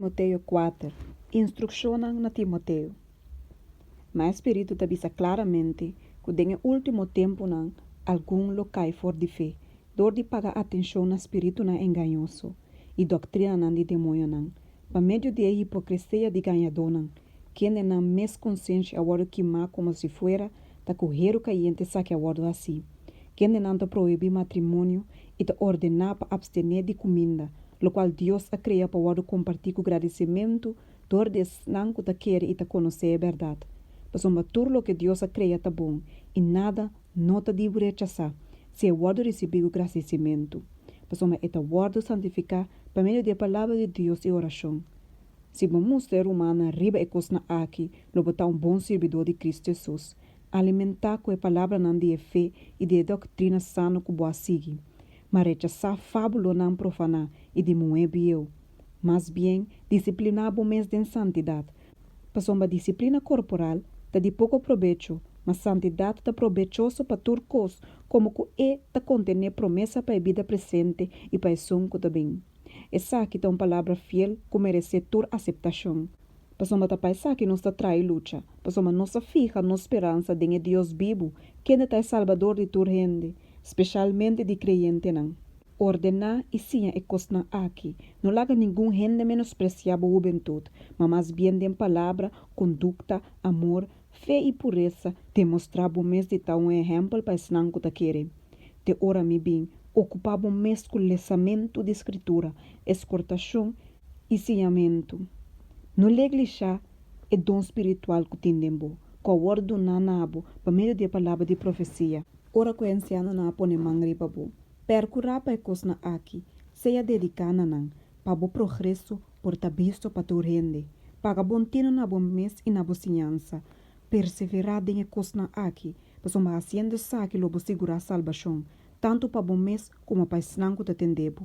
Timoteo kuater, Instrukshonnan na Timoteo Ma e Spiritu ta bisa klaramente ku den e último tempunan algun lo kai for di fe dor di paga atenshon na spiritunan engañoso i doktrinanan di demoñonan pa medio di e hipokresia di gañadónan Kendenan mes konsenshi a wòrdu kimá komo si fuera ta ku heru kayente saki a wòrdu hasí. Kendenan ta prohibí matrimonio i ta ordená pa apstené di kuminda, lokual Dios a krea pa wòrdu kompartí ku gradisementu dor di esnan ku ta kere i ta konosé e bèrdat. Pasobra tur loke Dios a krea ta bon i nada no ta dibu rechasá si e wòrdu risibí ku grasisementu, pasobra e ta wòrdu santifiká pa medio di e palabra di Dios i orashon. Si bo mustra e rumannan riba e kosnan aki, lo bo ta un bon sirbidó di Kris Jesús. Alimentá ku e palabranan di e fe i di e doktrina sano ku bo a sigui. Ma rechasá fábulonan profaná i di muhé bieu. Mas bien, disipliná bo mes den santidat. Pasobra disiplina korporal ta di poko probecho, ma santidat ta probechoso pa tur kos, komo ku e ta kontené promesa pa e bida presente i pa esun ku ta bini. Esaki ta un palabra fiel ku meresé tur aseptashon. Pasobra ta pa esaki nos ta traha e lucha, pasobra nos a fiha nos speransa den e Dios bibu, kende ta e Salbador di tur hende, speshalmente di kreyentenan. Ordená i siña e kosnan aki, No laga ningun hende menospresiá bo hubentut, ma mas bien den palabra, kondukta, amor, Fe i puresa te mostrá bo mes di ta un ehèmpel pa esnan ku ta kere. Te ora mi bin, okupá bo mes ku lesamentu di Skritura, eskòrtashon i siñamentu. No leglishá e don spiritual ku tin den bo, ku a wòrdu duná na bo pa medio di e palabra di profesia. Ora ku e ansianonan a pone man riba bo, pèrkurá pa e kosnan akí, sea dediká na nan, pa bo progreso por ta bisto pa tur hende. Paga bon tino na bo mes i na bo siñansa. Perseverá den e kosnan aki, pasobra hasiendo esaki lo bo sigurá salbashon, tantu pa bo mes komo pa esnan ku ta tende bo.